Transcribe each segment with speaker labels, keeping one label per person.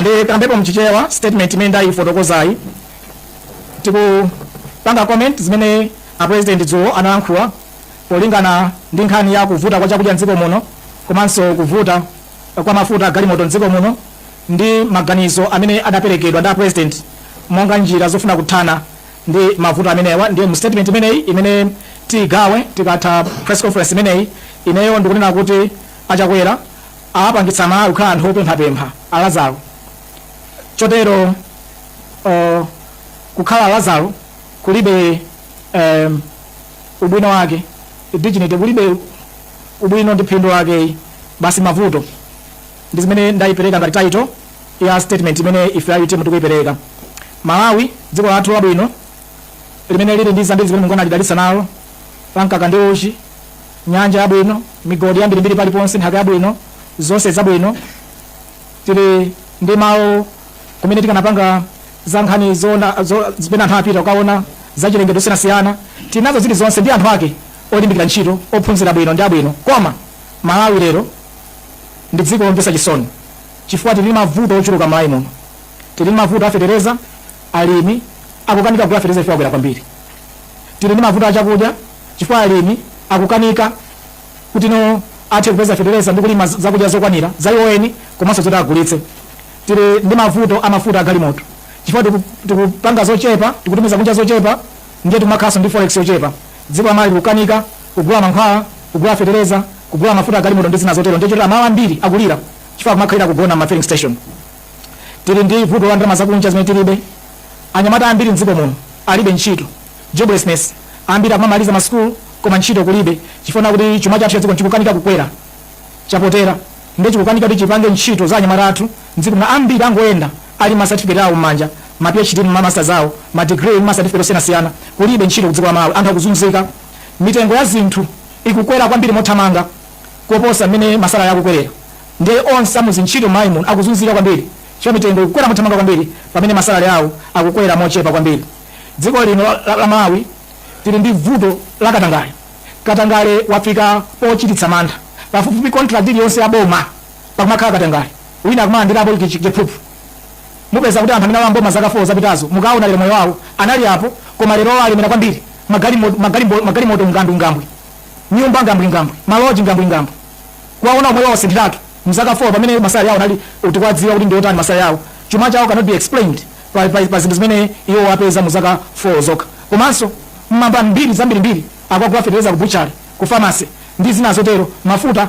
Speaker 1: Ndikambepo mchichewa statement imene ndayifotokozayi tikupanga comment zimene a president dzulo analankhula polingana ndi nkhani ya kuvuta kwa chakudya mdziko muno komanso kuvuta kwa mafuta galimoto mdziko muno ndi maganizo amene adaperekedwa ndi a president monga njira zofuna kuthana ndi mavuto amenewa ndiye mu statement imeneyi imene tiigawe tikatha press conference imeneyi ineyo ndikunena kuti a Chakwera awapangitsa amalawi kukhala anthu opemphapempha a Lazaro chotero uh, kukhala Lazaro kulibe um, ubwino wake dignity kulibe ubwino ndi phindu lake basi mavuto ndi zimene ndayipereka ngati title ya statement imene ife a UTM tikuipereka. Malawi dziko lathu labwino limene lili ndi zambiri zimene Mulungu analidalitsa nalo la mkaka ndi uchi, nyanja yabwino, migodi yambirimbiri paliponse, nthaka yabwino, zonse zabwino. Tili ndi malo kumene tikanapanga za nkhani zona zo- zimene anthu apita kukaona za chilengedwe zosiyanasiyana. Tili nazo zili zonse ndi anthu ake olimbikira ntchito, ophunzira bwino ndi abwino. Koma Malawi lero ndi dziko lomvetsa chisoni. chifukwa tili ndi mavuto ochuluka mmalawi muno. Tili ndi mavuto a fetereza, alimi akukanika kugula fetereza chifukwa wakwera kwambiri. Tili ndi mavuto a chakudya chifukwa alimi akukanika kuti no athe kupeza fetereza ndi kulima zakudya zokwanira za iwo eni komanso zoti agulitse. Tili ndi mavuto a mafuta a galimoto chifukwa tiku- tikupanga zochepa, tikutumiza kunja zochepa ndiye tikumakhalanso ndi forex yochepa. Dziko la Malawi likukanika kugula mankhwala, kugula fetereza, kugula mafuta a galimoto ndi zina zotero ndiye moti amalawi ambiri akulira. chifukwa kumakhalira kugona m'ma filling station tili ndi vuto la ndalama zakunja zimene tilibe anyamata ambiri mdziko muno alibe ntchito joblessness ambiri akumamaliza masukulu koma ntchito kulibe chifukwa kuti chuma chathu chadziko chikukanika kukwera chaphotera ndiye chikukanika kuti chipange ntchito za anyamata athu mdziko muno ambiri akungoyenda ali ma certificate awo m'manja ma phd ma masters awo ma degree ma certificate osiyanasiyana kulibe ntchito kudziko la malawi anthu akuzunzika mitengo ya zinthu ikukwera kwambiri mothamanga kuposa mmene masalary akukwerera nde onse amuzintchito m'malawi muno akuzunzika kwambiri chifukwa mitengo ikukwera mothamanga kwambiri pamene masalary awo akukwera mochepa kwambiri dziko lino la, la, la malawi tili ndi vuto la katangale katangale wafika pochititsa mantha pafupifupi contract iliyonse ya boma pakumakhala katangale wina akumalandirapo chiphuphu mupeza kuti anthu amene alowa m'boma zaka 4 zapitazo mukaona lero moyo wawo anali apo koma lero alemera kwambiri magalimoto magalimoto ngandungambwe Nyumba ngambwingambwi, maloji ngambwingambwi, kuwaona moyo wawo wasinthiratu mzaka 4 pamene masalary awo anali tikuwadziwa kuti ndiotani masalary awo, chuma chawo cannot be explained pa pa pa zinthu zimene iwowo apeza mu zaka 4 zokha. Komanso mmamva mbiri zambirimbiri akugula fetereza ku butchery, ku pharmacy ndi zina zotero, mafuta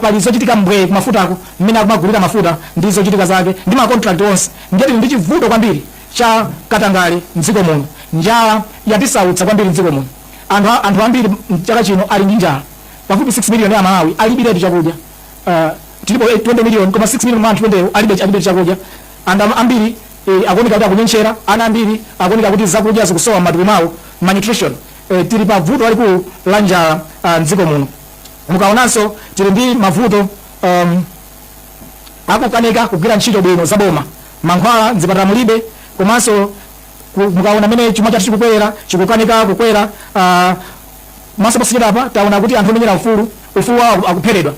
Speaker 1: pali zochitika mbwee ku mafutako mmene akumagulira mafuta ndi zochitika zake ndi ma contract onse. Ndiye tili ndi chivuto chambiri cha katangale mdziko muno. Njala yatisautsa kwambiri mdziko muno. Anthu anthu ambiri mchaka chino ali ndi njala. Pafupi 6 million ya aMalawi alibiretu chakudya. Uh, tilipo 20 million koma 6 million mwa anthu amenewo alibe alibe chakudya. Anthu ambiri eh, akuoneka kuti akunyentchera, ana ambiri akuoneka kuti zakudya zikusowa m'matupi mwawo, malnutrition. Eh, tili pa vuto lalikulu la njala uh, mdziko muno. Mukaonanso tili ndi mavuto um, akukanika kugwira ntchito bwino zaboma mankhwala mzipatala mulibe komanso ku- mukaona mmene chuma chathu chikukwera chikukanika kukwera ah, komanso posachedwapa taona kuti anthu omenyera ufulu ufulu wawo aku- akupheredwa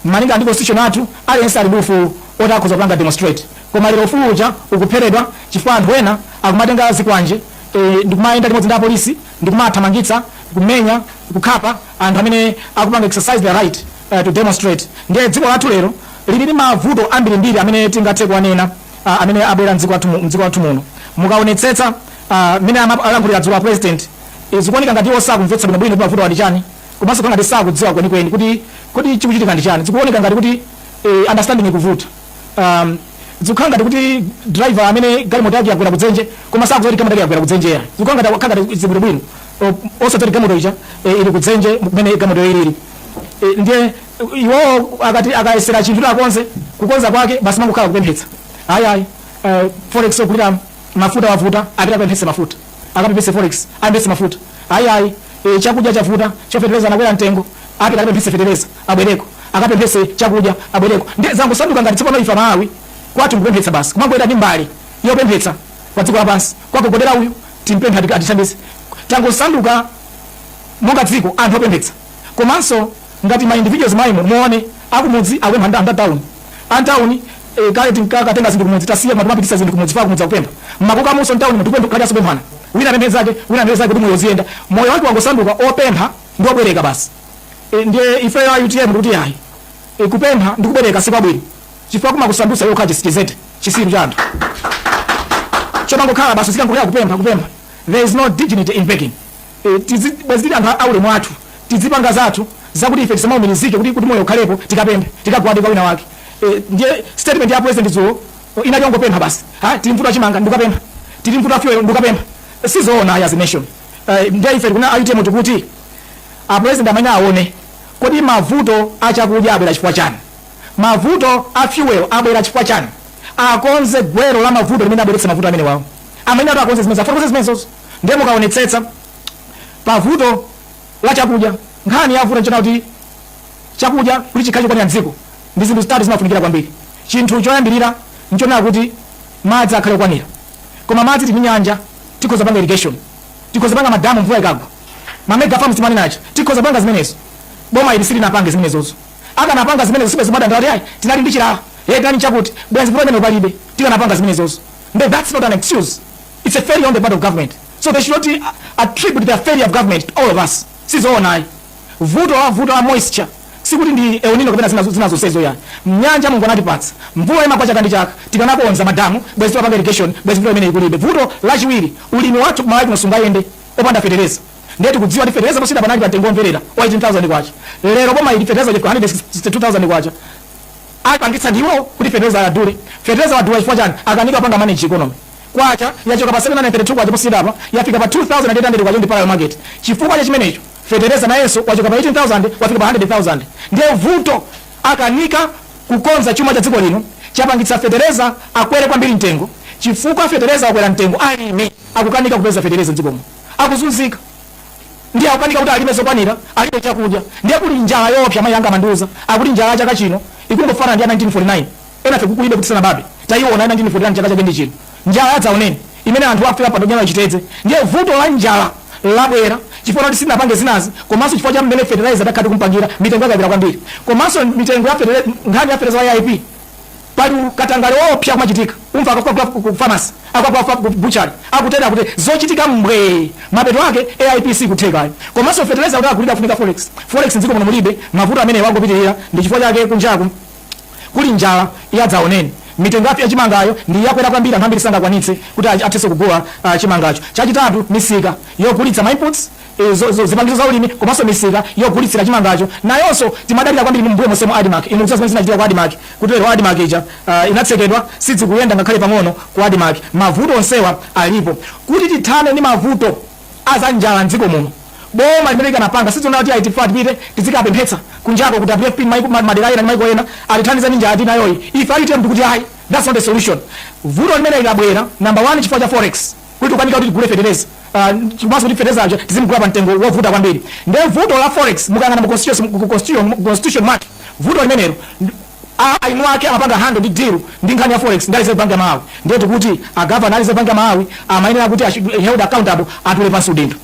Speaker 1: malinga ndi constitution yathu aliyense ali ndi ufulu woti akhoza kupanga demonstrate koma lero ufulu uja ukupheredwa chifukwa anthu ena akumatenga zikwanje eh, ndikumayenda limodzi ndi apolisi ndikumathamangitsa kumenya kukhapa anthu amene akupanga exercise their right eh, to demonstrate ndiye dziko lathu lero lili ndi mavuto ambirimbiri amene tingathe kuwanena a, amene abwera mdziko lathu mu- mdziko lathu muno mukaonetsetsa a, mmene ama- alankhulira dzulo a president e, zikuoneka ngati iwo sakumvetsa bwino bwino kuti mavuto ndi chani komanso kuti ngati sakudziwa kwenikweni kuti kuti chikuchitika ndi chani zikuoneka ngati kuti e, understanding ikuvuta um, zikukhala ngati kuti driver amene galimoto yake yagwera kudzenje koma sakudziwa kuti galimoto yake yagwera kudzenje yani zikukhala ngati akhala ngati zili bwino bwino osadziwa kuti galimoto ija e, ili kudzenje kumene galimoto ili ili e, ndiye Iwo akati akayesera chinthu akonze kukonza kwake basi kumangokhala kupemphetsa. Ayi ayi. Uh, forex yogulira mafuta yavuta apita akapemphetse mafuta. Akapemphetse forex apemphetse mafuta. Ayi ayi. E, chakudya chavuta fetereza wakwera mtengo apita akapemphetse fetereza abwereko akapemphetse chakudya abwereko ndiye tangosanduka ngati tsopano ife aMalawi kwathu kupemphetsa basi kumangoyenda ndi mbale yopemphetsa pa dziko lapansi kukagogodera uyu timpemphe ati- atithandize tangosanduka monga dziko anthu opemphetsa komanso ngati ma individuals mmenemo muone akumudzi akupempha a mtauni a mtauni eh, kale tinkatenga zinthu kumudzi tasiya koma timapititsa zinthu kumudzi pa kumudzi akupempha komanso mtauni munthu kupempha kukadyanso pemphana wina apemphe zake wina apemphe zake kuti moyo uziyenda moyo wake wangosanduka opempha ndi obwereka basi e, ndiye ifeyo a utm ndikuti yayi e, kupempha ndi kubwereka si kwabwino chifukwa kumakusandutsa iwe kukhala chitsiru chidzete chitsiru cha anthu chomangokhala basi chikungokhala kupempha kupempha there is no dignity in begging E, ife, bwezi tili anthu aulemu wathu tizipanga zathu zakuti ife tisamaumirizike kuti kuti moyo ukhalepo tikapemphe tikagwade kwa wina wake e, ndiye statement ya president dzulo inali yongopempha basi ha tili m'vuto la chimanga ndikapempha tili m'vuto la fuel ndikapempha sizoona as a nation e, ndiye ife kuno a UTM tikuti a president amene aone kodi mavuto achakudya abwera chifukwa chani mavuto a fuel abwera chifukwa chani akonze gwero la mavuto limene labweretsa mavuto amenewawo amene ati akonze zimene zafotokoze zimenezozo ndiye mukaonetsetsa pa vuto la chakudya nkhani yavuta nchonena kuti chakudya kuti chikhale chokwanira mdziko ndi zinthu zitatu zimafunikira kwambiri chinthu choyambirira nchonena kuti madzi akhale okwanira koma madzi tili nyanja tikhoza panga irrigation tikhoza panga madamu mvula ikagwa mamega farms timanena aja tikhoza panga zimenezo boma ili silinapange zimenezozo akanapanga zimenezo sibwezi pano akuti ayi tinali ndi chilala kaya chakuti bwenzi vuto limeneli palibe tikanapanga zimenezozo nde that's not an excuse it's a failure on the part of government so they should not attribute the failure of government to all of us sizoona ayi vuto la vuto la moisture sikuti ndi El Nino kapena zina zina zonsezo ayi nyanja Mulungu anatipatsa mvula imagwa chaka ndi chaka tikanakonza madamu bwezi tikupanga irrigation bwezi mvula imeneyi kulibe vuto lachiwiri ulimi wathu kumalawi kuno sungayende opanda fetereza ndiye tikudziwa kuti fetereza posachedwapa anali pa mtengo womveka wa 18000 kwacha lero boma ili fetereza wafika 162000 kwacha apangitsa ndiwo kuti fetereza adule fetereza wadula chifukwa chani akanika panga manage economy kwacha yachoka pa K732 posachedwapa yafika pa K2800 pa parallel market. Chifukwa cha chimenecho fetereza nayenso wachoka pa 18,000 wafika pa 100,000. Ndiye vuto akanika kukonza chuma cha dziko lino chapangitsa fetereza akwere kwambiri mtengo. Chifukwa fetereza wakwera mtengo alimi akukanika kupeza fetereza m'dziko muno akuzunzika ndiye akukanika kuti alime zokwanira alibe chakudya ndiye kuli njala yoopsa mayi anga amandiuza akuti njala ya chaka chino ikungofanana ndi ya 1949. enafe kulibe tisanabadwe taiona 1949 chaka chake ndi chino njala yadzaoneni imene anthu afika podya chitedze ndiye vuto la njala labwera chifukwa kuti sinapange zinazi komanso chifukwa cha mmene fertilizer akhala akumupangira mitengo yakwera kwambiri komanso mitengo ya fertilizer nkhani ya fertilizer ya AIP pali katangale woopsa kumachitika kumva akagula ku pharmacy akagula ku butchery akutere kuti zochitika mbwe mapeto ake AIP sikutheka komanso fertilizer kuti agulidwe kufunika forex forex mdziko muno mulibe mavuto amenewa angopitirira ndi chifukwa chake kunjaku Kuli njala ya dzaoneni. Mitengo ya chimangayo ndi yakwera kwambiri, anthu ambiri sangakwanitse kuti athe kugula chimangacho. Chachitatu, misika yogulitsa ma inputs, zipangizo za ulimi, komanso misika yogulitsira chimangacho nayonso timadalira kwambiri. M'mbuyo monsemu ndi Admarc, inu mukudziwa zimene zinachitika ku Admarc, kuti lero Admarc ija inatsekedwa, sizikuyenda ngakhale pang'ono ku Admarc. Mavuto onsewa alipo. Kuti tithane ndi mavuto. aza njala mdziko muno boma limeneli likanapanga sizoona kuti ayi ife tipite tizikapemphetsa kunjako ku WFP maiko ma- madera ena ndi maiko ena atithandize ndi njala tili nayoyi ife amene tikuti ayi that's not a solution vuto limeneli likubwera number 1 chifukwa cha forex kuti tikukanika kuti tigule fetereza komanso kuti fetereza uja tizimugula pa mtengo wovuta kwambiri nde vuto la forex mukayang'ana mu constitution mu constitution mu constitution mwake vuto limenelo eni ake amapanga handle ndi deal ndi nkhani ya forex ndi a Reserve Bank ya Malawi ndiye tikuti a Governor a Reserve Bank ya Malawi amayenera kuti they should be held accountable atule pansi udindo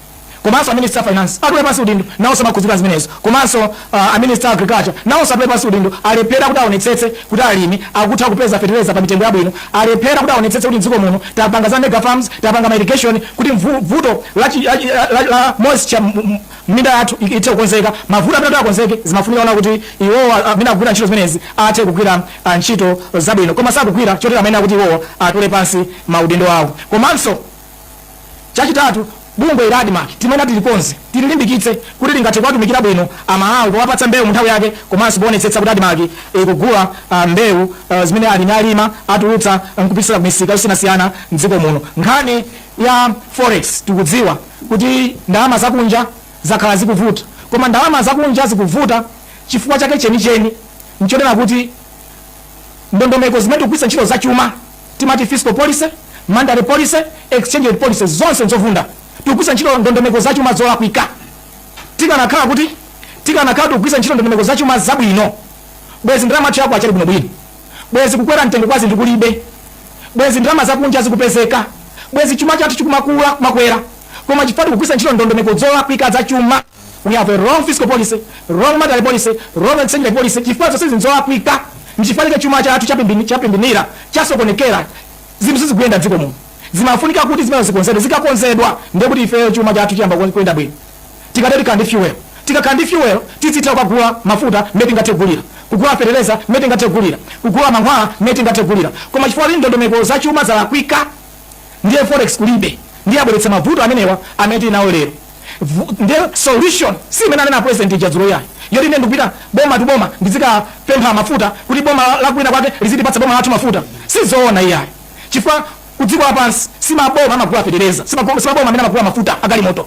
Speaker 1: komanso a Minister a Finance atule pansi udindo nawonso amakhudzidwa ndi zimenezo komanso uh, a Minister a Agriculture nawonso atule pansi udindo alephera kuti aonetsetse kuti alimi akutha kupeza fetereza pa mitengo yabwino alephera kuti aonetsetse kuti mdziko muno tapanga za mega farms tapanga ma irrigation kuti mvu- vuto la, chi- la, chi- la, la, la moisture mu- mu- minda yathu i- ithe kukonzeka mavuto amene kuti akonzeke zimafunika zonena kuti iwowo a- amene akugwira ntchito zimenezi athe kugwira ah, ntchito zabwino koma sakugwira chotero amene tikuti iwowo atule pansi maudindo awo komanso chachitatu bungwe ili la ADMARC limeneli tilikonze tililimbikitse kuti lingathe kuwatumikira bwino amalawi powapatsa mbewu mu nthawi yake komanso poonetsetsa kuti ADMARC ikugula ah, mbewu ah, zimene alimi alima atulutsa nkupititsira kumisika yosiyanasiyana mdziko muno nkhani ya forex tikudziwa kuti ndalama zakunja zakhala zikuvuta koma ndalama zakunja zikuvuta chifukwa chake chenicheni nchonena kuti ndondomeko zimene tikugwiritsa ntchito zachuma timati fiscal policy monetary policy exchange rate policy zonse nzovunda tikugwiritsa ntchito ndondomeko zachuma zolakwika tikanakhala kuti tikanakhala tikugwiritsa ntchito ndondomeko zachuma zabwino bwezi ndalama yathu ya kwacha ili bwinobwino bwenzi kukwera mtengo kwa zinthu kulibe, bwenzi ndalama zakunja zikupezeka, bwenzi chuma chathu chikumakula kumakwera. Koma chifukwa tikugwiritsa ntchito ndondomeko zolakwika za chuma, we have a wrong fiscal policy, wrong monetary policy, wrong exchange rate policy. Chifukwa zonse zinthu zolakwika, nchifukwa chake chuma chathu chapimbini- chapimbinira, chasokonekera, zinthu sizikuyenda mdziko muno. Zimafunika kuti zimenezo zikonzedwe, zikakonzedwa ndiye kuti ifeyo chuma chathu chiyamba kuyenda bwino. Tidzatha kukhala ndi fuel. Tikakhala ndi fuel tizitha kukagula mafuta mmene tingathe kugulira, kugula fetereza mmene tingathe kugulira, kugula mankhwala mmene tingathe kugulira. Koma chifukwa choti ndondomeko za chuma zalakwika ndiye forex kulibe ndiye abweretsa mavuto amenewa amene tili nawo lero. Vu- Ndiye solution si imene anena president uja dzulo yayi yoti ine ndikupita boma to boma ndizikapempha mafuta kuti boma la- lakwina kwake lizitipatsa boma lathu mafuta sizoona iyayi chifukwa kudziko lapansi si maboma amagula fetereza si maboma si maboma amene amagula mafuta agalimoto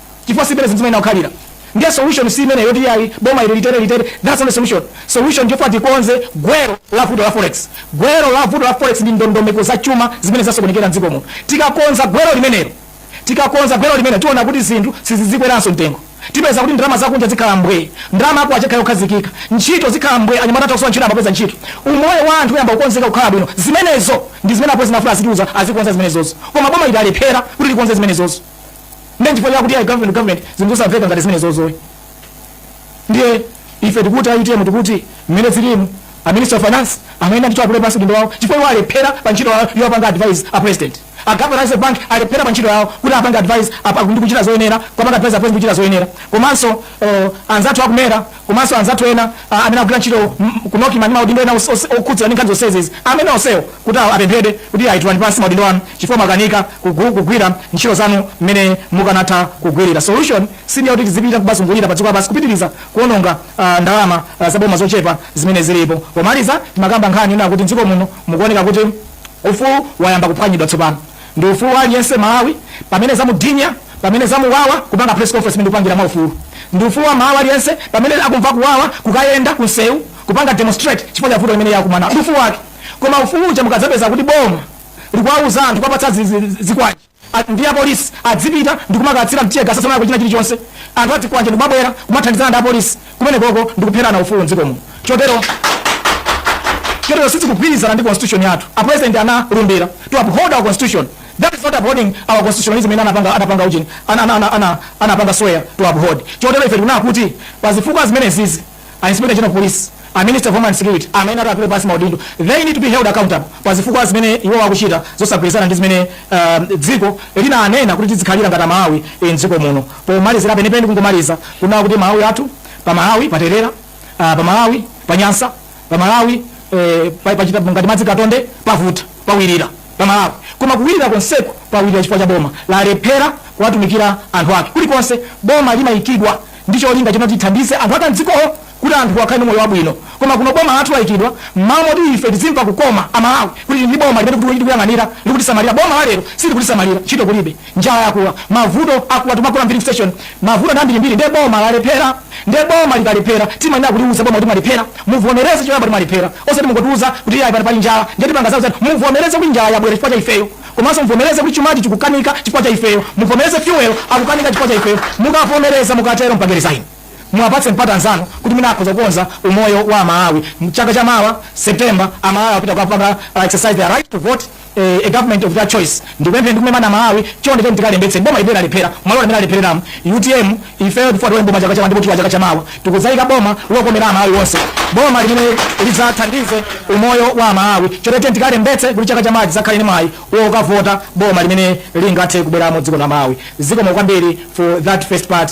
Speaker 1: chifukwa simene zinthu zimayenera kukhalira ndiye solution si imene yoti yayi boma ili litere litere that's not the solution solution ndi yoti tikonze gwero la vuto la forex gwero la vuto la forex ndi ndondomeko za chuma zimene zasokonekera mdziko muno tikakonza gwero limenelo tikakonza gwero limene tiona kuti zinthu sizizikweranso mtengo tipeza kuti ndalama zakunja zikhala mbwee ndalama ya kwacha ikhala yokhazikika ntchito zikhala mbwee anyamata athu akusowa ntchito ayamba kupeza ntchito umoyo wa anthu uyamba kukonzeka kukhala bwino zimenezo ndi zimene akuyenera azitiuza azikonza zimenezozo koma boma ili alephera kuti likonze zimenezozo ndi chifukwa chakuti ayi government government zinthu zosamveka ngati zimene zozoyi ndiye ife tikuti a utm tikuti mmene zilimu a minister of finance amayenera ndithu atule pansi udindo wawo chifukwa iwo alephera pa ntchito yawo yopanga advice a president a governor a Reserve Bank alephera pa ntchito yawo kuti apange advice apa- ndi kuchita zoyenera kupanga advice a president kuchita zoyenera komanso eh, anzathu aku MERA komanso anzathu ena a, amene akugwira ntchito m- ku Nocma ndi maudindo ena os- os- okhudzana ndi nkhani zonsezi amene onsewo kuti awa- apemphedwe kuti ayi tulani pansi maudindo anu chifukwa mwakanika kugu- kugwira ntchito zanu mmene mukanatha kugwirira solution si ndiyakuti tizipita kumazungulira pa dziko lapansi kupitiriza kuononga ah, ndalama ah, zaboma zochepa zimene zilipo pomaliza timakamba nkhani ina kuti mdziko muno mukuoneka kuti ufulu wayamba kuphwanyidwa tsopano Ndi ufulu wa aliyense m'Malawi pamene zamunyinya, pamene zamuwawa kupanga press conference ndi kupangira mwa ufulu. Ndi ufulu wa m'Malawi aliyense pamene akumva kuwawa kukayenda ku nseu kupanga demonstrate chifukwa cha vuto limene iye akumanalo. Ndi ufulu wake. Koma ufulu uja mukadzapeza kuti boma likuwauza anthu kuwapatsa zikwanje a, ndi apolisi adzipita ndi kumakatsira teargas asamayako china chilichonse anthu azikwanje ndi kumabwera kumathandizana ndi apolisi kumeneko ndi kupherana ufulu mdziko muno chotero chotero sizikugwirizana ndi constitution yathu a president analumbira to uphold our constitution that is not upholding our constitutionalism imene anapanga anapanga ujeni ana ana ana ana anapanga swear to uphold chotero ife tikuna kuti pazifukwa zimenezizi a inspector general of police a minister of homeland security amene atule pansi maudindo they need to be held accountable pazifukwa zimene iwo akuchita zosagwirizana ndi zimene um, dziko linanena kuti tidzikhalira ngati amalawi eh, mdziko muno Pomalizira penipeni kungomaliza kunena kuti Amalawi athu, pa Malawi paterera, ah, pa Malawi panyansa, pa Malawi eh, pa- pachita ngati madzi katonde pavuta, pawirira pa Malawi. Koma kuwirira konseku pawirira chifukwa cha boma lalephera kuwatumikira anthu ake. Kulikonse boma limayikidwa ndi cholinga choti lithandize anthu ake amdzikowo kuti anthuwo akhale ndi moyo wabwino koma kuno boma lathu laikidwa mmalo moti ife tizimva kukoma a Malawi kuti tili ndi boma limene tikutuluki tikuyang'anira likutisamalira boma la lero silikutisamalira ntchito kulibe njala yakula mavuto akula tikumagona m'filling station mavuto ndi ambirimbiri nde boma lalephera nde boma likalephera timanena kuliuza boma kuti mwalephera muvomereze choyamba kuti mwalephera osati mungotiuza kuti iyayi pano pali njala nde tipanga zakutizakuti muvomereze kuti njala yabwera chifukwa cha ifeyo komanso muvomereze kuti chumachi chikukanika chifukwa cha ifeyo muvomereze fuel akukanika chifukwa cha ifeyo mukavomereza mukatero mupange resign Muwapatse mpata anzanu kuti mwina akhoza kukonza umoyo wa Amalawi. Chaka cha mawa, September, Amalawi apita kukapanga uh, exercise their right to vote eh, a government of their choice. Ndikupempheni ndi kumema Amalawi chonde tiyeni tikalembetse boma limene lalephera m'malo limene lalephereramo UTM ifeyo tikufuna tione boma chaka cha ndipo tiwa chaka cha mawa tikudzayika boma lokomera Amalawi onse boma limene lidzathandize umoyo wa Amalawi chonde tiyeni tikalembetse kuti chaka cha mawa tidzakhale ndi mwayi wokavota boma limene lingathe kubweramo dziko la Malawi. Zikomo kwambiri for that first part.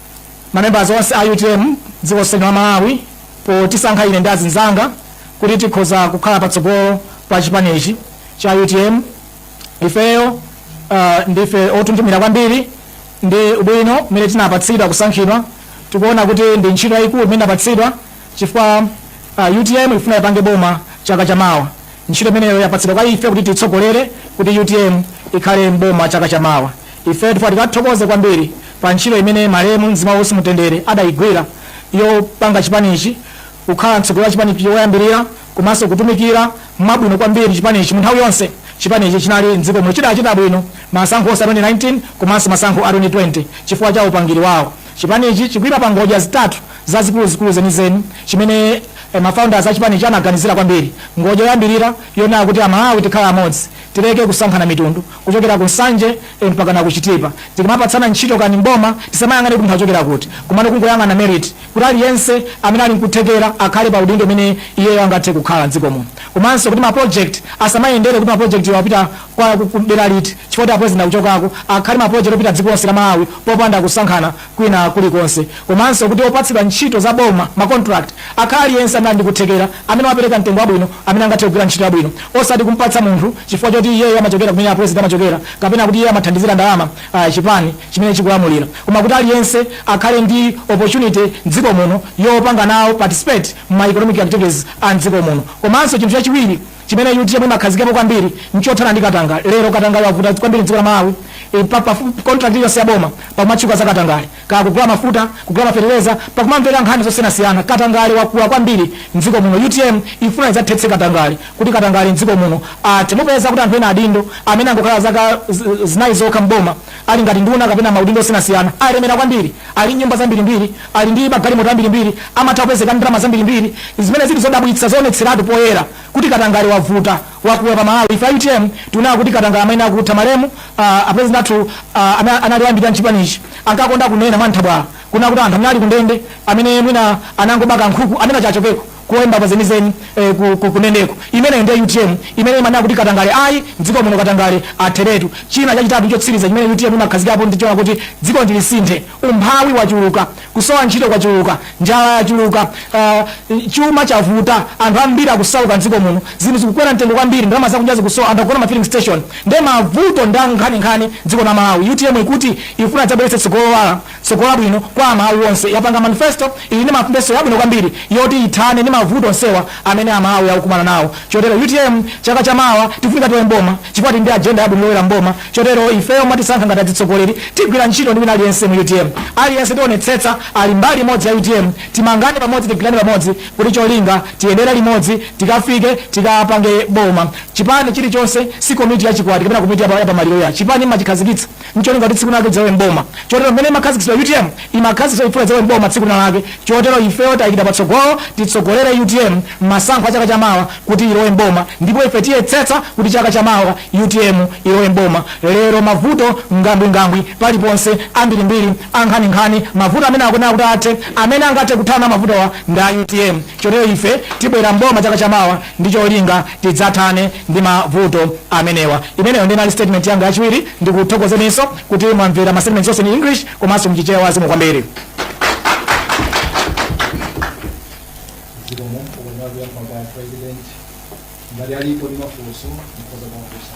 Speaker 1: mamembers onse a utm dziko lonse la malawi potisankha ine ndi azinzanga kuti tikhoza kukhala patsogolo pa chipanichi cha utm ifeyo uh, ndife onthunthumira kwambiri ndi ubwino umene tinapatsidwa kusankhidwa tikuona kuti ndi ntchito yayikulu imene inapatsidwa chifukwa utm ifuna ipange boma chaka cha mawa. Ntchito imeneyo yapatsidwa kwa ife kuti tiitsogolere kuti utm ikhale m'boma chaka cha mawa. Ifeyo tifuna tikathokoze kwambiri pa ntchito imene malemu mzimu wawo uwuse mumtendere adaigwira yopanga chipanichi kukhala mtsogoleri wa chipanichi woyambirira komanso kutumikira mwabwino kwambiri chipanichi munthawi yonse chipanichi chinali m'dziko muno. Chidachita bwino masankho onse a 2019 komanso masankho a 2020 chifukwa cha upangiri wawo. Chipanichi chikuima pa ngodya zitatu zazikuluzikulu zenizeni chimene ma founders a chipanichi anaganizira kwambiri. Ngodya yoyambirira yonena kuti a Malawi tikhale amodzi, tileke kusankhana mitundu kuchokera ku Nsanje mpakana ku Chitipa, tikamapatsana ntchito kani m'boma tisamayang'ane kuti munthu achokera kuti komano kungoyang'ana merit kuti aliyense amene ali nkuthekera akhale pa udindo umene iyeyo angathe kukhala m'dziko muno komanso kuti ma project asamayendere kuti ma projectwa apita kwa ku dera liti chifukwa kuti a president akuchokako akhale ma project opita dziko lonse la Malawi popanda kusankhana kwina kulikonse komanso kuti opatsidwa ntchito za boma ma contract akhale aliyense amene ali ndi kuthekera amene wapereka mtengo wabwino amene angathe kugwira ntchito yabwino osati kumpatsa munthu chifukwa choti iyeyo amachokera kumene a president amachokera kapena kuti iye amathandizira ndalama ah, chipani chimene chikulamulira koma kuti aliyense akhale ndi opportunity mdziko muno yopanga nawo participate mu ma economic activities a mdziko muno komanso chinthu chachiwiri Chimene utm imakhazikapo kwambiri nchothana ndi katangale. Lero katangale wavuta kwambiri mdziko la Malawi, pafupi contract iliyonse ya boma pakumatchuka za katangale. Kaya kugula mafuta, kugula ma fetereza, pakumamveka nkhani zosiyanasiyana. Katangale wakula kwambiri mdziko muno. Utm ifuna idzathetse katangale kuti katangale mdziko muno athe. Mupeza kuti anthu ena adindo amene angokhala zaka zinayi zokha m'boma, ali ngati nduna kapena maudindo osiyanasiyana, alemera kwambiri, ali ndi nyumba zambirimbiri, ali ndi magalimoto ambirimbiri, amatha kupezeka ndi ndalama zambirimbiri, zimene zili zodabwitsa, zoonetseratu poyera kuti katangale wavuta, wakula pa Malawi. Ife a utm tikunena kuti katangale amayenera kutha. Malemu a president athu amene anali oyambirira m'chipanichi ankakonda kunena mwanthabwala kunena kuti anthu amene ali kundende, amene mwina anangoba kankhuku, amenewo achokeko. kulowe mbava zenizeni ee ku ku kundendeko imeneyo ndiye utm imene imanena kuti katangale ayi mdziko muno katangale atheretu china chachitatu ndi chotsiriza chimene utm imakhazikapo ndi chonena kuti dzikoli lisinthe umphawi wachuluka kusowa ntchito kwachuluka njala yachuluka ah, chuma chavuta anthu ambiri akusauka mdziko muno zinthu zikukwera mtengo kwambiri ndalama zakunja zikusowa anthu akugona ma filling station ndiye mavuto ndi ankhaninkhani dziko la malawi utm ikuti ifuna idzabweretse tsogolo lowala Tsogolo Labwino kwa Amalawi Onse yapanga manifesto ili ndi manifesto yabwino kwambiri yoti ithane ndi mavuto onsewa amene Amalawi akukumana nawo. Chotero utm chaka cha mawa tifunika tilowe mboma chifukwa tili ndi agenda yabwino yolowera mboma. Chotero ifeyo mwatisankha ngati adzitsogoleri tigwira ntchito ndi wina aliyense mu utm. Aliyense tionetsetsa ali mbali imodzi ya utm. Timangane pamodzi tigwirane pamodzi kuti cholinga tiyendere limodzi tikafike tikapange boma. Chipani chilichonse si komiti ya chikwati kapena komiti ya pa ya pamaliro ya. Chipani mmachikhazikitsa. ncholinga kuti tsiku linalake chidzalowe m'boma chotero mmene imakhazikitsidwa utm imakhazikitsidwa chifukwa idzalowe m'boma tsiku linalake chotero ifeyo tayikidwa patsogolo titsogolere utm mmasankho a chaka cha mawa kuti ilowe m'boma ndipo ife tiyetsetsa kuti chaka cha mawa utm ilowe m'boma lero mavuto ngambwingambwi paliponse ambirimbiri ankhaninkhani mavuto amene akunena kuti athe amene angathe kuthana mavutowa ndi a utm Chotero ife tibwera m'boma chaka chamawa ndi cholinga tidzathane ndi mavuto amenewa. Imeneyo ndiye inali statement yanga yachiwiri. Ndikuthokozeninso kuti mwamvera ma statements onse in English komanso mchichewa zikomo kwambiri. zikomo
Speaker 2: ukwenda kuyankha kwa president ngati alipo ndi mafunso mukhoza kuwafunsa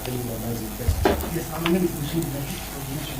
Speaker 2: Anyone has a
Speaker 3: question? Yes, I'm going to proceed with the explanation.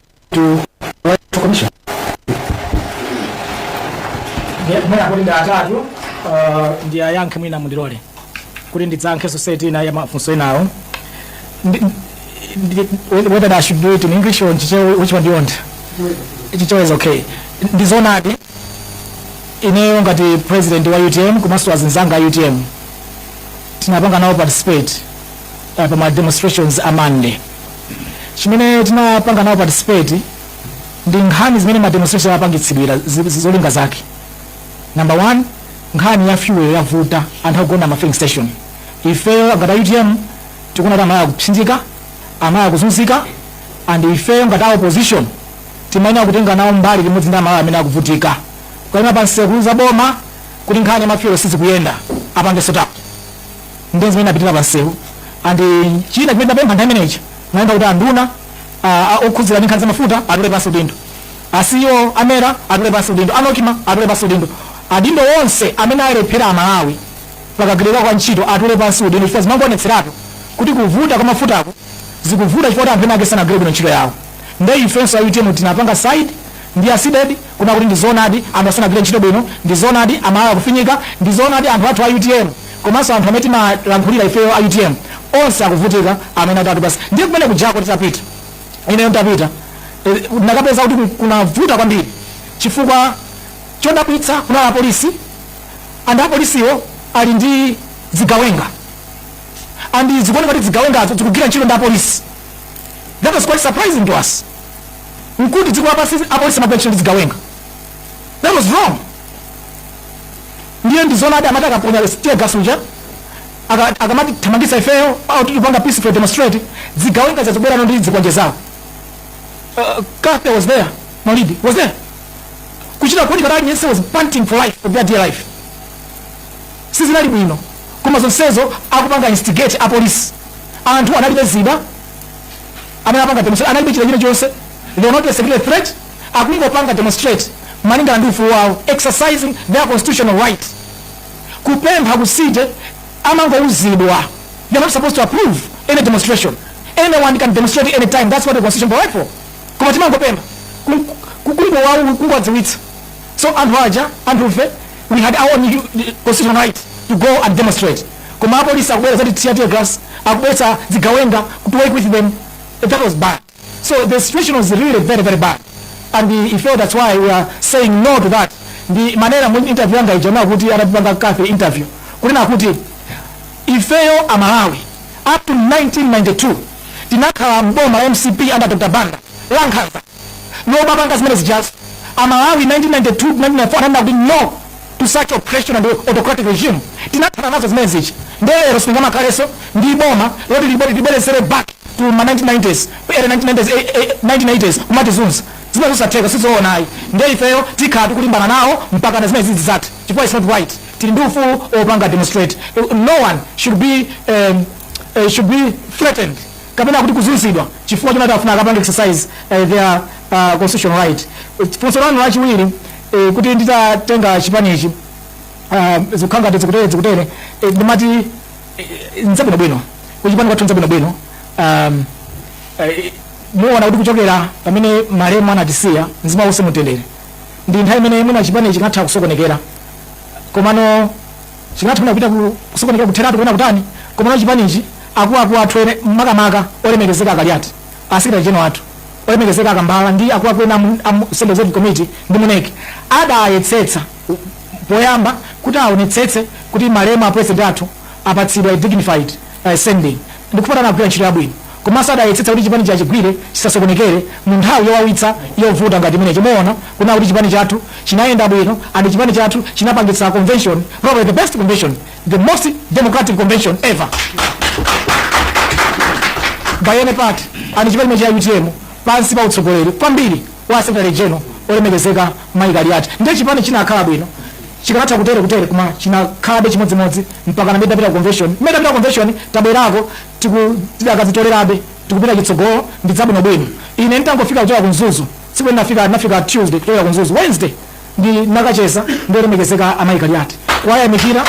Speaker 1: mwina kuti ndi atatu uh, ndiayankhe mwina mundilole kuti ndidzayankhe society ina ya mafunso enawo Ndi- ndi- whether I should do it in English or in Chichewa, which one do you want? Chichewa is okay. Ndi zoonadi ineyo ngati president wa UTM komanso azinzanga a UTM tinapanga nawo participate uh, pa ma demonstrations a Monday chimene tinapanga nawo participate ndi nkhani zimene ma demonstration apangitsidwira zi- zi- zolinga zake number one nkhani ya fuel yavuta anthu akugona ma filling station ifeyo ngati a utm tikuona kuti amalawi akupsinjika amalawi akuzunzika and ifeyo ngati a opposition timayenera kutenga nawo mbali limodzi ndi amalawi amene akuvutika kukaima pansewu kuuza boma kuti nkhani ya mafuel sizikuyenda apange sort out ndiye zimene tinapitira pansewu and china chimene tapempha nthawi imeneyi naimba kuti anduna ah, ah, okhudzidwa ndi nkhani za mafuta atule pansi udindo a ceo a mera atule pansi udindo a nocma atule pansi udindo adindo onse amene alephera amalawi pakagwirika kwa ntchito atule pansi udindo chifukwa zimangoonetseratu kuti kuvuta kwa mafutako zikuvuta chifukwa kuti anthu ena ake sanagwire bwino ntchito yawo nde ifenso a utm tinapanga side ndi a cdedi kunena kuti ndi zoonadi anthu sanagwire ntchito bwino ndi zoonadi amalawi akufinyika ndi zoonadi anthu athu a utm komanso anthu amene timalankhulira ifeyo a utm onse akuvutika amene atatu basi ndiye kumene kujako titapita ineyo ndapita eh, ndakapeza kuti ku- kunavuta kwambiri chifukwa chodabwitsa kunali apolisi and apolisiwo ali ndi zigawenga and zikuoneka kuti zigawengazo zikugwira ntchito ndi apolisi that was quite surprising to us nkuti dziko lapansi apolisi amagwira ntchito ndi zigawenga that was wrong ndiye ndizona ati amati akaponya tear gas uja aka- akamatithamangisa ifeyo oti tikupanga peaceful demonstrate zigawenga zazabwerano ndi zikwanje zawo uh, Kathy was there Malidi was there kuchita kuti Kaliati yense was panting for life for their dear life sizinali bwino koma zonsezo akupanga instigate apolisi anthu analibe zida amene apanga demonstrate analibe chida chilichonse they were not a security threat akungopanga demonstrate malingana ndi ufulu wawo exercising their constitutional right kupempha ku city amangouzidwa they're not supposed to approve any demonstration anyone can demonstrate any time that's what the constitution provide for koma timangopempha kungowadziwitsa So anthu aja, anthufe, we had our own constitutional right to go and demonstrate. Koma apolisi akubwera kuzatithira tear gas, akubweretsa zigawenga to work with them. That was bad. So the situation was really very, very bad. And we felt that's why we are saying no to that. Ndimanena mu interview yanga ija atandipanga Kathy interview. Kunena kuti ifeyo a Malawi up to 1992 tinakhala mboma la MCP under Dr. Banda lankhanza lomwe limapanga zimene zijazo. A Malawi 1992, 1994 ananena kuti no to such oppression and autocratic regime. Tinathana nazo zimene zija nde lero sitingamakhalenso ndi boma loti libwere libweretsere back to ma 1990s, early 1990s, 1980s kumatizunza. Zimenezo zisatheka, sizoona ayi. Nde ifeyo tikhala tikulimbana nawo mpakana zimenezi zidzathe chifukwa it's not right. Tili ndi ufulu opanga demonstrate. No one should be, um, should be threatened. kapena kuti kuzunzidwa chifukwa chonati afuna akapange exercise uh, their uh, constitutional right. Funso lanu lachiwiri eh, kuti nditatenga chipanichi uh, zikukhala ngati zikutere zikutere eh, ndimati eh, nzabwino bwino kuchipani kwathu nzabwino bwino um, eh, muona kuti kuchokera pamene malemu anatisiya mzimu wake uuse mu mtendere ndi nthawi imene mwina chipani chingatha kusokonekera komano Chikanatha mwina kupita ku kusokonekera kutheratu kapena kutani komano chipanichi akuluakulu athu ene makamaka olemekezeka a Kaliati, a secretary general athu olemekezeka a Kambala ndi akuluakulu ena a mu a mu central executive committee ndi mu nec adayetsetsa poyamba kuti aonetsetse kuti malemu a president athu apatsidwa a dignified sending. Ndipo anagwira ntchito yabwino komanso adayetsetsa kuti chipanichi achigwire chisasokonekere mu nthawi yowawitsa yovuta ngati imeneyi. Muona kunena kuti chipani chathu chinayenda bwino and chipani chathu chinapangitsa convention, probably the best convention, the most democratic convention ever by any party and chipani cha utm pansi pa utsogoleri kwambiri. wa a Secretary General olemekezeka Mayi Kaliati ndiye chipani chinakhala bwino chikanatha kutere kutere koma chinakhalabe chimodzimodzi mpakana tidapita convention tidapita ku convention tabwerako tikakazitolerabe tikupita chitsogolo ndi zabwino bwino ine nditangofika kuchoka ku Mzuzu tsiku nafika Tuesday kuchoka ku Mzuzu Wednesday Ndinakacheza ndi olemekezeka a Mayi Kaliati kuwayamikira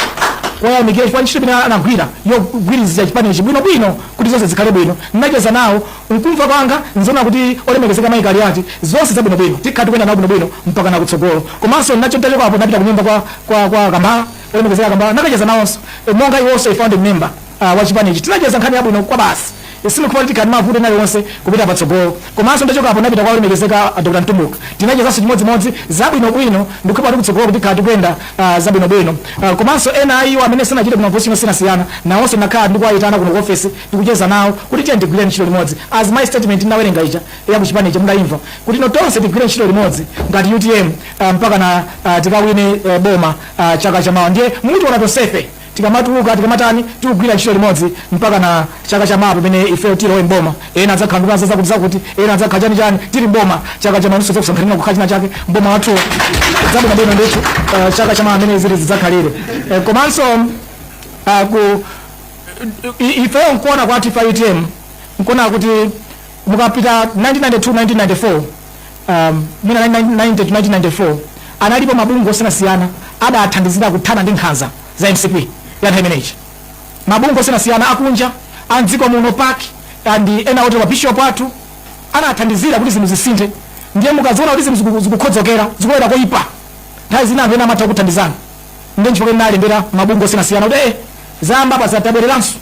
Speaker 1: kuwayamikira chifukwa ntchito imene anagwira yogwirizitsa chipanichi bwino bwino kuti zonse zikhale bwino. Ndinacheza nawo mkumva kwanga ndinaona kuti olemekezeka Mayi Kaliati zonse zabwino bwino tikhala tikuyenda nawo bwino bwino mpakana kutsogolo. Komanso ndinacho nditachokapo ndinapita kunyumba kwa kwa kwa Kambala olemekezeka Kambala ndinakacheza nawonso monga iwonso a founding member wa chipanichi tinacheza nkhani yabwino kwabasi. Sindikuona kuti tikhala ndi mavuto ena aliwonse kupita patsogolo. Komanso nditachokapo ndinapita kwa olemekezeka a Dr. Mtumbuka. Tinachezanso chimodzimodzi zabwinobwino. Ndikukhulupira kuti kutsogoloku tikhala tikuyenda zabwinobwino. Komanso ena a iwo amene sanachite bwino maposition osiyanasiyana nawonso ndinakhala ndikuwayitana kuno ku ofesi ndikucheza nawo kuti tiyeni tigwire ntchito limodzi as my statement ndinawerenga ija ya ku chipani ija mudayimva kuti no tonse tigwire ntchito limodzi ngati utm mpakana tikawine boma chaka chamawa ndiye mutiona tonsefe Tikamatuluka, tikamatani, tikugwira ntchito limodzi mpakana chaka cha mawa pamene ifeyo tilowe m'boma. Ena adzakhala nduna za zakutizakuti, ena adzakhala chanichani. Tili m'boma chaka cha mawa, inunso tidzakusankhaninso kukhala chinachake m'boma mwathumo. Zabwino bwino ndithu uh, chaka cha mawa mmene zinthu zidzakhalire uh, komanso uh, ku i- ifeyo nkuona kwathu ife a utm nkuona kuti mukapita 1992 1994 um, mwina 1990 to 1994 analipo mabungwe osiyanasiyana adathandizira kuthana ndi nkhanza za mcp ya nthawi imeneyi mabungwe osiyanasiyana akunja a mdziko muno pac and ena otero mabishop athu anathandizira kuti zinthu zisinthe ndiye mukaziona kuti zinthu ziku- zikukhodzokera zikulowera koyipa nthawi zina anthu ena amatha kuthandizana ndiye nchifukwa nalembera mabungwe osiyanasiyana kuti eh, zayamba apazi tabwereranso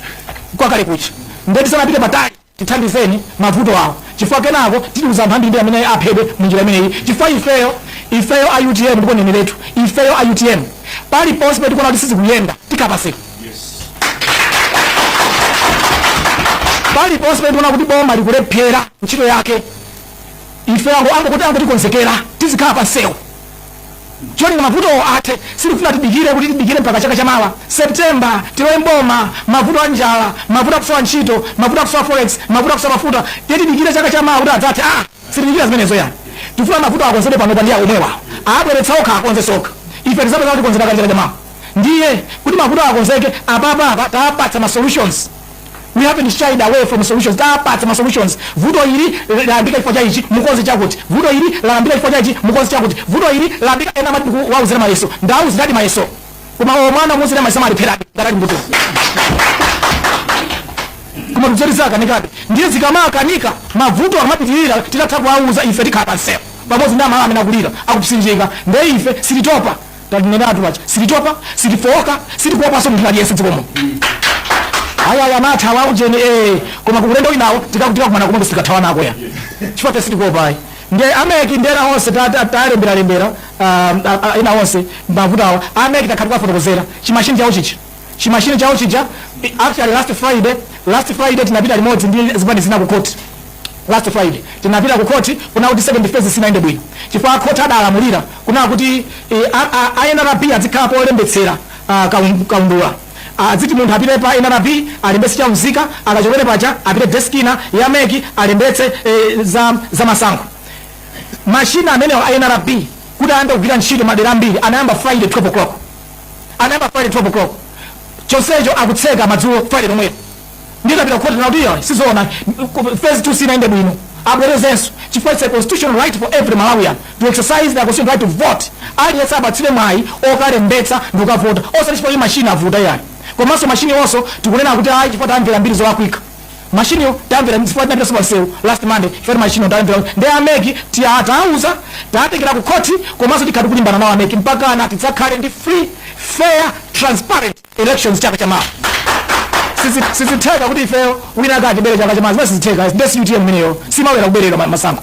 Speaker 1: kwakale kuja ndiye tisanapite patali tithandizeni mavuto awa chifukwa kenako tiluza anthu ambirimbiri amene aphedwe munjira imeneyi chifukwa ifeyo ifeyo a utm ndipo neneretu ifeyo a utm paliponse pamene tikuona kuti sizikuyenda tikhala pansewu paliponse pamene tikuona kuti boma likulephera ntchito yake ife ango angokuti angotikonzekera tizikhala pansewu cholinga mavutowo athe. Sitikufuna tidikire kuti tidikire mpaka chaka chamawa, September, tilowe m'boma. Mavuto a njala, mavuto a kusowa ntchito, mavuto a kusowa forex, mavuto a kusowa mafuta, ndiye tidikire chaka chamawa kuti adzathe? Aa, sitidikira zimenezo yayi. Tikufuna mavutowo akonzedwe panopa ndi omwewawo. Abweretsa okha, akonzenso okha. Ife tidzapeza kuti akonzedwa kale chaka chamawa. Ndiye kuti mavutowo akonzeke, apapa apa tawapatsa ma solutions. we haven't shied away from solutions tawapatsa ma solutions vuto ili layambika chifukwa cha ichi mukonze chakuti vuto ili layambika chifukwa cha ichi mukonze chakuti vuto ili layambika ena amati tikuwauzira mayeso ndawauziradi mayeso komatu mwana kumuuzira mayeso amalepherabe ngati ali mbuto komatu zoti zakanikadi ndiye zikamakanika mavuto akamapitirira titatha kale kuwauza ife tikhala pamsewupo pamodzi ndi aMalawi amene akulira akupsinjika ndiye ife sititopa Tanenatu paja sititopa sitifooka sitikuopanso munthu wina aliyense dziko muno ayi ayi amatha awa ujeni ee koma ku ulendo winawo tikakumana komweko sitikathawanako ayi chifukwa ife sitikuopa ayi nde ameki ndi ena onse talembera lembera ena onse mavuto awa ameki takhala tikuwafotokozera chimashini chawo chija chimashini chawo chija actually last friday last friday tinapita limodzi ndi zipani zina ku court last friday tinapita ku court kunena kuti second phase sinaende bwino chifukwa court adalamulira kunena kuti eh, a- a- a nrb adzikhala polembetsera ah, kaun- kaundula aziti munthu apite pa nrb alembetse cha umzika akachokera paja apite desk ina ya meki alembetse eh, za, za masankho mashina amenewo a nrb kuti ayambe kugwira ntchito madera ambiri anayamba friday 12 o'clock anayamba friday 12 o'clock chonsecho akutseka madzulo friday lomwelo nde tapita kukhoti kunena kuti izo sizoona phase two sinaende bwino abwerezenso chifukwa it's a constitutional right for every malawian to exercise their constitutional right to vote aliyense apatsidwe mwayi okalembetsa ndi kukavota osati chifukwa kuti mashini avuta ayi komanso mashiniwonso tikunena kuti ayi chifukwa tamvera mbiri zolakwika mashiniwo tamvera nchifukwa tinapita pamsewu last monday chifukwa mashiniwo tamvera nde ameki tawauza tawatengera ku khoti komanso tikhala tikulimbana nawo ameki mpakana tidzakhale ndi free fair transparent elections chaka cha mawa Sizi- sizitheka kuti ifeyo wina akatibere chaka cha mawa zimenezo sizitheka ndi si utm imeneyo siimabwera kuberedwa ma- masankho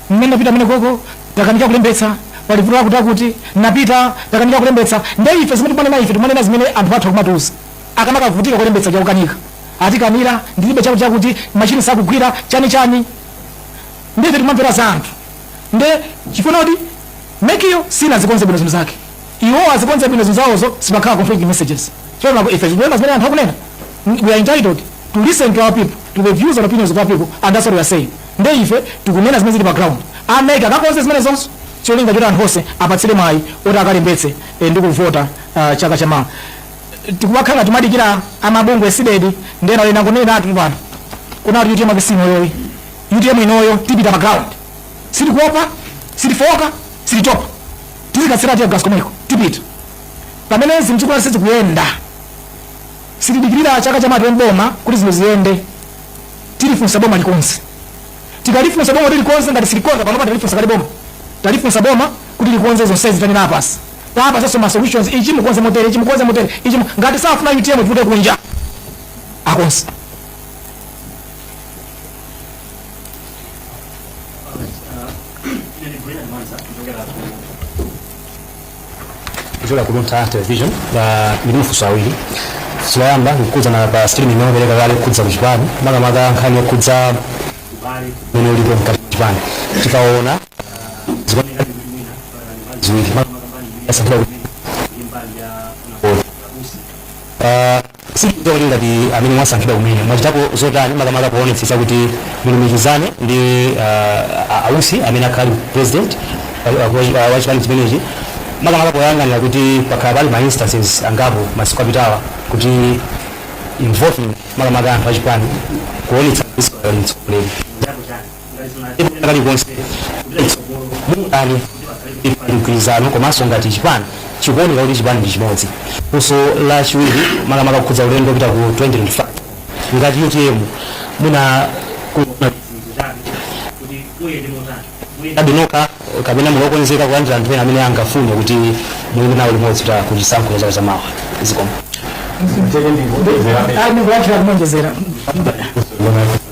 Speaker 1: Amene anapita amene koko takanika kulembetsa pali vuto lakuti akuti tinapita takanika kulembetsa nde ife zimene tikumanena ife tikumanena zimene anthu athu akumatiuza akamakavutika kulembetsa uja kukanika atikaniza ndilibe chakuti chakuti machine sakugwira chani chani nde ife tikumamvera za anthu nde chifukwa choti mekiyo sinazikonze bwino zinthu zake iwo azikonze bwino zinthu zawozo sipakhale conflicting messages choncho ife tikulemba zimene anthu akunena we are entitled to listen to our people to the views and opinions of our people and that's what we are saying nde ife tikunena zimene zili pa ground a mec akakonze zimenezo zonse cholinga choti anthu onse apatsidwe mwayi oti akalembetse eh, ndi kuvota ah, chaka chamawa sikumakhala timadikira amabungwe cdedi ndi ena ena kuneneratu pano kunena kuti utm yachisimo iyo ayi utm inoyo tipita pa ground sitikuopa sitifooka sititopa tizikathiridwa tear gas komweko tipita pamene zinthu sizikuyenda Sitidikilira chaka chamawa boma kuti zinthu ziyende tilifunsa boma likonse tikalifunsa boma kuti likonze ngati silikonza panopa talifunsa kale boma talifunsa boma kuti likonze zonsezi tanena apazi tapasaso ma solutions ichi mukonze motere ichi mukonze motere ichi mu- ngati safuna utm ivute kunja akonse Nilikuwa na mwanza kutoka hapo
Speaker 3: kuchokera ku Luntha Television ndili mafunso awiri loyamba likukhudzana pa stream imene mwapereka kale yokhudza ku chipani makamaka nkhani yokhudza mene ulipo mkati mwa chipani tikaona zikuoneka ziwiri makamaka mbali ya Sambira kuti ndi mbali ya Nakolo. Ah, Sindikudziwa kuti ngati amene mwasankhidwa kumene mwachitapo zotani makamaka poonetsetsa kuti mulumikizane ndi ah, a- ausi amene akhala ali president ah, ah, wa- ah, wa chipani chimenechi makamaka poyang'anira kuti pakhala pali ma instances angapo masiku apitawa kuti involving makamaka anthu achipani kuonetsa kuti sikali mtsogoleri kalikonse mutani mgwirizano komanso ngati chipani chikuoneka kuti chipani ndi chimodzi funso la chiwiri makamaka kukhudza ulendo wopita ku 2025 ngati utm muima panokha kapena muli okonzeka kulandira anthu ena amene angafune kuti muyime nawo limodzi kuchisankho chaka chamawa zikomo ndikuwachira
Speaker 1: kumonjezera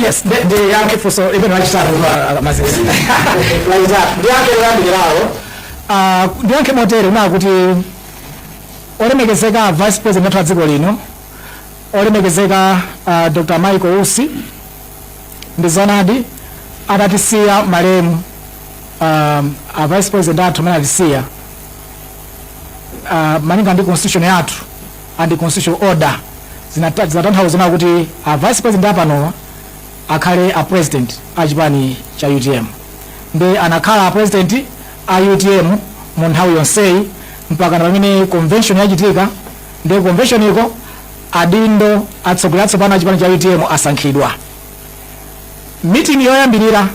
Speaker 1: Yes, the, the young people, so even right start with uh, Mazes. Like that. The young people are now. Uh, the young people tell now kuti olemekezeka vice president wathu wa dziko lino olemekezeka uh, dr michael usi ndi zonadi atatisiya malemu um, a vice president athu amene atisiya uh, malinga ndi constitution yathu and constitutional order zinata zinatanthauzano kuti a vice president apanowa akhale a president a chipani cha utm ndi anakhala a president a utm mu nthawi yonseyi mpaka na pamene convention yachitika ndi convention iko adindo atsogoleri atsopano a chipani cha utm asankhidwa meeting yoyambirira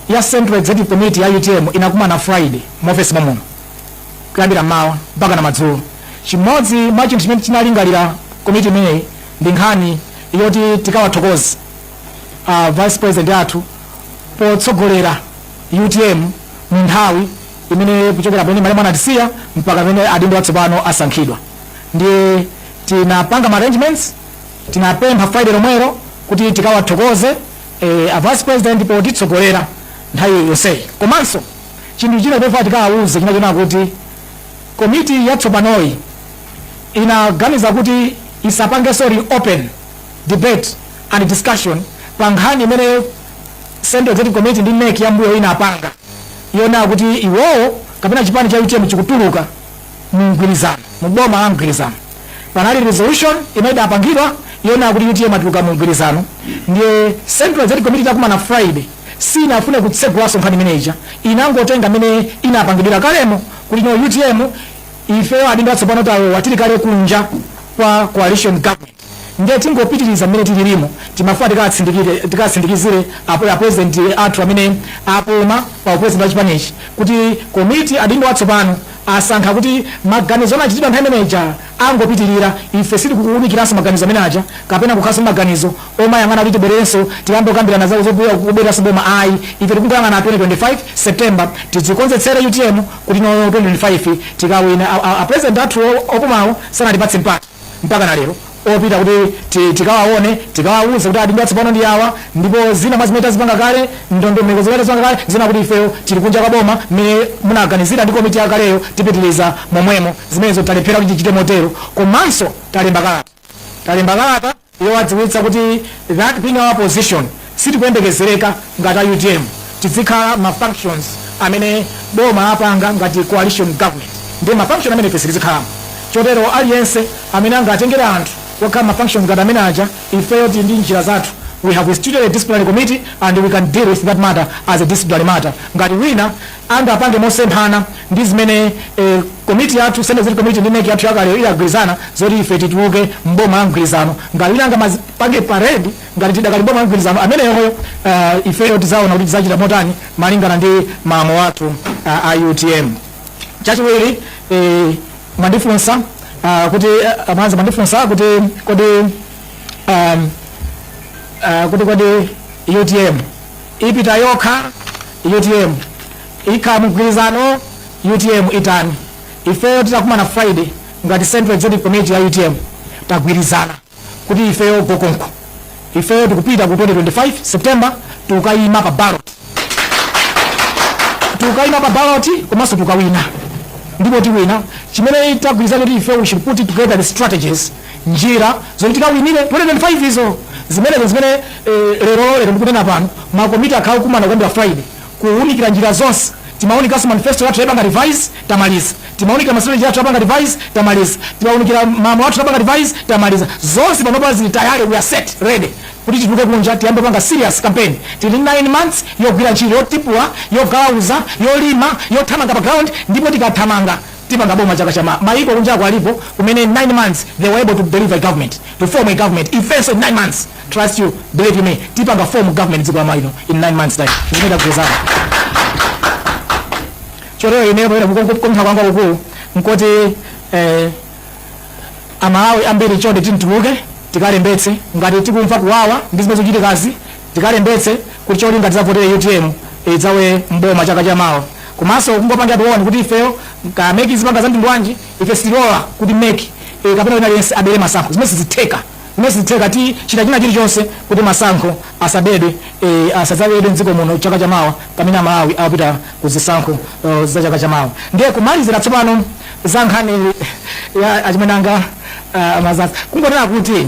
Speaker 1: ya central executive committee ya utm inakumana friday mu office momuno kuyambira m'mawa mpakana madzulo. Chimodzi mwa chinthu chimene chinalingalira komiti imeneyi ndi nkhani yoti tikawathokoze a vice president athu potsogolera utm mu nthawi imene kuchokera pamene malemu anatisiya mpaka pamene adindo atsopano asankhidwa ndiye tinapanga ma arrangements tinapempha friday lomwero kuti tikawathokoze eh, a vice president potitsogolera nthawi yonseyi komanso Chinthu china chofuna tikawawuze chinali chonena kuti komiti yatsopanoyi inaganiza kuti isapangenso reopen debate and discussion pa nkhani imene Central Executive Committee ndi NEC yambuyo inapanga yonena kuti iwowo kapena chipani cha utm chikutuluka mu mgwirizano mu boma la mgwirizano. Panali resolution imene idapangidwa yonena kuti utm atuluka mu mgwirizano ndiye Central Executive Committee itakumana Friday sinafune kutsegulanso nkhani imeneija inangotenga mene inapangidwira kalemo kuti no utm ifeyo adindo atsopano tawowa tili kale kunja kwa coalition government ndiye tingopitiriza mmene tililimo timafuna tikatsindikize- tikatsindikizire apo- apresident athu amene apuma pa upresident wa chipanichi kuti komiti adindo atsopano asankha kuti maganizo anachitidwa nthawi imeneja angopitirira, ife sitikuunikiranso maganizo amene aja, kapena kukhalanso ndi maganizo omayang'ana kuti tibwererenso tiyambe kukambirana za kubwereranso m'boma ayi, ife tikungoyang'ana 2025 September tidzikonzekeretse utm kuti no 2025 tikawina, a president athuwo opumawo sanatipatse mpata mpakana lero opita kuti tikawaone, tikawauze kuti adindo atsopano ndi awa ndipo zina mwa zimene tazipanga kale, ndondomeko zimene tazipanga kale ndi zoti ifeyo tili kunja kwa boma mmene munaganizira ndi komiti yakaleyo tipitiriza momwemo. zimenezo talephera kuti tichite motero komanso talemba kalata talemba kalata yowadziwitsa kuti that being our position sitikuyembekezereka ngati a utm tizikhala ma functions amene boma apanga ngati coalition government ndi ma function amene ife sitizikhalamo chotero aliyense amene angatengere anthu kukakhala ma functions ngati amene aja ifeyo tili ndi njira zathu we have instituted a disciplinary committee and we can deal with that matter as a disciplinary matter ngati wina angapange mosemphana ndi zimene komiti yathu, Central Executive Committee, ndi NEC yathu yakaleyo idagwirizana zoti ife tituluke m'boma la mgwirizano. Ngati wina angamapange parade ngati tidakali m'boma la mgwirizano, ameneyoyo uh, ifeyo tidzaona kuti tidzachita motani malingana ndi malamulo athu uh, a utm. Chachiwiri eh, mwandifunsa uh, kuti uh, anzanu mwandifunsa kuti kodi um, uh, kuti kodi utm Ipita yokha utm ikhala mugwilizano utm itani ifeyo titakumana friday ngati central executive committee ya utm tagwilizana kuti ifeyo go konko ifeyo tikupita ku 2025 september tikukayima pa ballot tikukayima pa ballot komanso tikukawina ndipo tiwina chimene tagwilizana kuti ifeyo we should put together the strategies njira zoti tikawinire 2025 izo zimenezo zimene eh, lero lero ndikunena pano makomiti akhala okumana kuyambira friday kuwunikira njira zonse timawunikanso manifesto yathu yapanga revise tamaliza timawunikira mastrategy yathu yapanga revise tamaliza timawunikira mamo athu yapanga revise tamaliza zonse panopa zili tayale we are set ready kuti tituluke kunja tiyambe panga serious campaign tili 9 months yogwira ntchito yotipula yogalauza yolima yothamanga pa ground ndipo tikathamanga tipanga boma chaka cha ma, mayiko kunjako alipo kumene in 9 months they were able to deliver a government to form a government ifenso in 9 months trust you believe you me tipanga form government dziko la Malawi lino in 9 months time zimene tagwirizanazo chotero ineyo pamene kupempha kwanga kukulu nkoti eh, amalawi ambiri chonde tituluke tikalembetse ngati tikumva kuwawa ndi zimene zikuchitikazi tikalembetse kuti cholinga tizavotere utm idzalowe mboma chaka cha mawa komanso kungopangira tione kuti ifeyo ka mec izipanga za mtundu wanji ife sitilola kuti mec eh, kapena wina aliyense abere masankho zimene sizitheka zimene sizitheka tichita china chilichonse kuti masankho asabedwe eh, asadzabedwe mdziko muno chaka cha mawa pamene amalawi akupita ku zisankho eh, za chaka cha mawa ndiye kumalizira tsopano za nkhani ya achimene anga uh, Mazaza kungonena kuti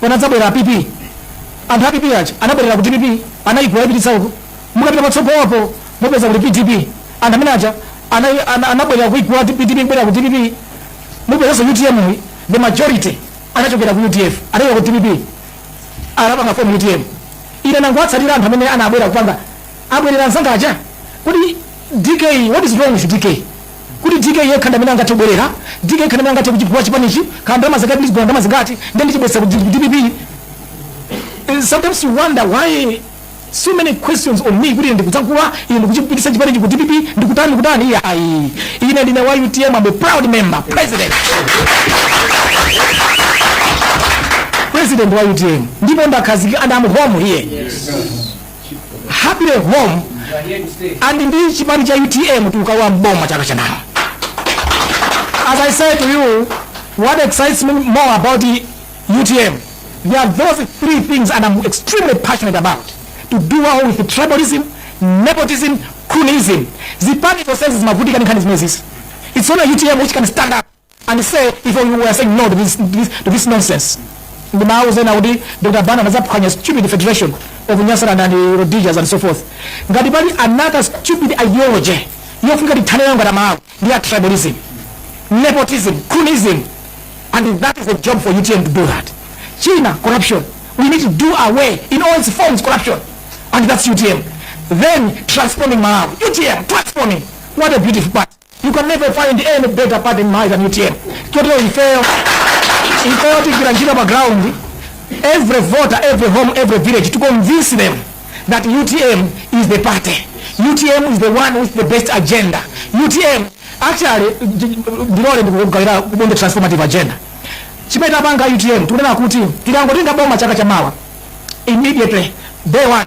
Speaker 1: panadzabwera a PP anthu a PP aja anabwerera ku dpp anayigula nkuipititsa uko mukapita patsogolopo mupeza kuti pdp anthu amene aja ana- ana- anabwerera kuigula ti- pdp kubwerera ku dpp mupezanso utm yi the majority anachokera ku udf anachokera ku dpp anapanga form utm ine ndangowatsatira anthu amene anabwera kupanga abwerera nzanga aja kodi dk what is wrong with dk kuti DK yekha ndamene angathe kubwerera, DK yekha ndamene angathe kuchigula chipanichi, kaya ndalama zake kuti ndichigula ndalama zingati, ndiye ndichibwezesa ku dpp. Eh, sometimes you wonder why so many questions on me kuti ine ndikudzagula ine ndikuchipitisa chipanichi ku dpp ndikutani kutani iyayi ayi ine ndine wa utm I'm a proud member president president wa utm ndipo ndakhazikika and I'm home here happily home and ndi chipani cha utm tikukalowa mboma chaka chamawa as i say to you what excites me more about the utm there are those three things and i'm extremely passionate about to do away with tribalism nepotism cronyism zipani zonsezi zimavutika ndi nkhani zimenezi it's only utm which can stand up and say if you were saying no to this, this, to this nonsense ndi mawu zena kuti dr banda anazaphwanya stupid federation of nyasaland and rodijas and so forth ngati pali another stupid ideology yofunika tithane nayo ngati malawi ndi ya tribalism nepotism croonism and that is the job for utm to do that china corruption we need to do away in all its forms corruption and that's utm then transforming malawi utm transforming what a beautiful part You can never find any better party in Malawi than UTM. Chotero ifeyo ifeyo tigwira ntchito pa ground every voter every home every village to convince them that UTM is the party. UTM is the one with the best agenda. UTM actually ndilole ndikugawireni on the transformative agenda. Chimene tapanga UTM tikunena kuti tikangotenga boma chaka chamawa immediately day one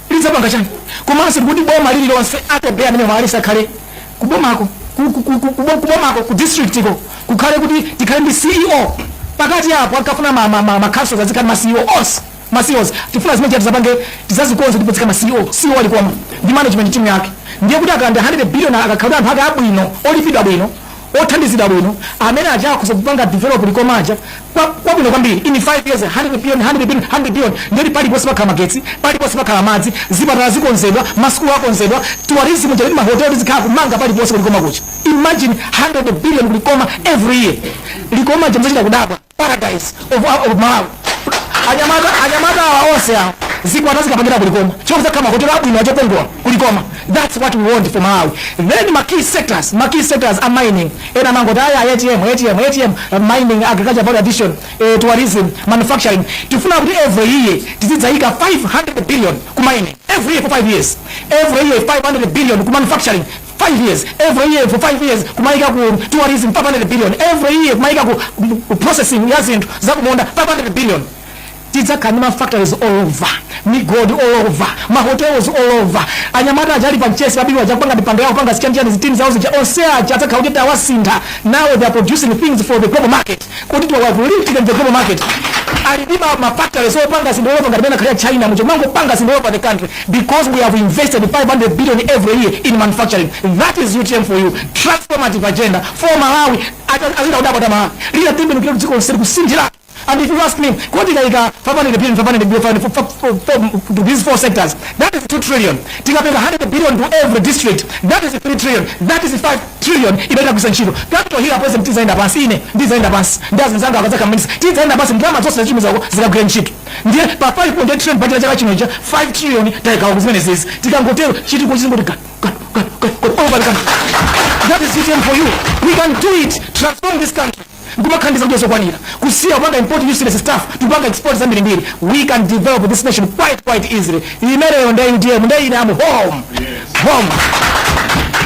Speaker 1: tidzapanga chani komanso ndikuti boma lililonse 30 amene alipowa akhale kubomako ku- ku- ku- ku- kubo- kubomako ku districtiko kukhale kuti tikhale ndi ceo pakati apo akafuna ma- ma- ma- ma councils azikhala ma ceos ma ceos tifuna zimene tizapange tizazikonze ndipo zikhala ma ceo ceo a Likoma ndi management team yake ndiye kuti akalandira 100 billion akakhala anthu ake abwino olipidwa bwino othandizidwa bwino amene azakhoze kupanga develop likoma aja kwa- kwabwino kwambiri in 5 years 100 billion 100 billion 100 billion ndiyoti paliponse pakhala magetsi paliponse pakhala madzi zipatala zikonzedwa masukulu akonzedwa tourism ija kuti mahoteli zikhala kumanga paliponse ku Likoma kuja imagine 100 billion ku Likoma every year Likoma ija muzachita kudabwa paradise of, of malawi anyamata anyamata awa onse awa zikwati zikapangidwa ku Likoma chifukwa kuli mahoteli abwino okongola ku Likoma that's what we want for malawi then ma key sectors ma key sectors a mining ena amangoti aya atm atm atm uh, mining agriculture value addition eh, tourism manufacturing tifuna kuti every year tizidzayika 500 billion ku mining every year for 5 years every year 500 billion ku manufacturing 5 years every year for 5 years kumaika ku tourism 500 billion every year kumaika ku ku processing ya zinthu zakumunda 500 billion tidzakhala ndi mafactories all over migodi all over mahotels all over anyamata aja ali pa Mchesi pa Biwi aja kupanga mipando yawo kupanga zichanichani zitsulo zawo zija onse aja adzakhala kuti tawasintha now they are producing things for the global market kuti tawalifita in the global market ali ndi ma- ma factories opanga zinthu all over ngati mmene akhalira China muja kumangopanga zinthu all over the country because we have invested 500 billion every year in manufacturing that is utm for you transformative agenda for malawi Ata- azachita kudabwa a Malawi lidzatembenukira dziko lonseli kusinthira and if you ask me kuti tikaika 500 billion 500 billion 500 for- for- for- for- to these four sectors that is 2 trillion tikapereka 100 billion to every district that is 3 trillion that is 5 trillion imene tagwiritsa ntchito. Capital Hill apresident tidzayenda pansi ine ndidzayenda pansi ndi azinzanga akadzakhala maminister tidzayenda pansi ndalama zonse tazitumiza uko zikagwire ntchito. Ndiye pa 5.8 trillion budget ya chaka chino ija 5 trillion tayigawa kuzimenezizi tikangotero chitukuko chizingoti gadu gadu gadu gadu gadu over the country. That is UTM for you. We can do it. Transform this country. Nkumakhala ndi zakudya zokwanira. Kusiya kupanga import useless stuff, kupanga export zambiri mbiri. We can develop this nation quite quite easily. Imeneyo ndiye UTM, ndiye I am home. Home.